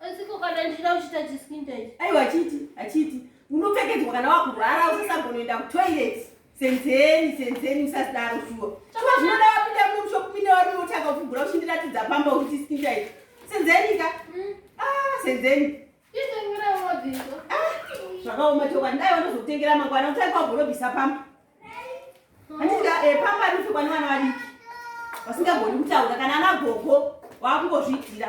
Asi ko kana ndichida kuchita chiskin tight. Aiwa chiti, achiti. Unopfekedzwa kana wakurwara usasagonoenda kutoilet. Senzeni, senzeni usasidaro shuwa. Chakwa zvinoda wapinda muno mushopinda wari unotanga kufugura uchindiratidza pamba uchiti skin tight. Senzeni ka? Mm. Ah, senzeni. Isengira wabvisa. Ah, zvakaoma chokwadi. Dai wanozokutengera mangwana utai kwagorobisa pamba. vasingagoni kutaura kana ana gogo waakungozviitira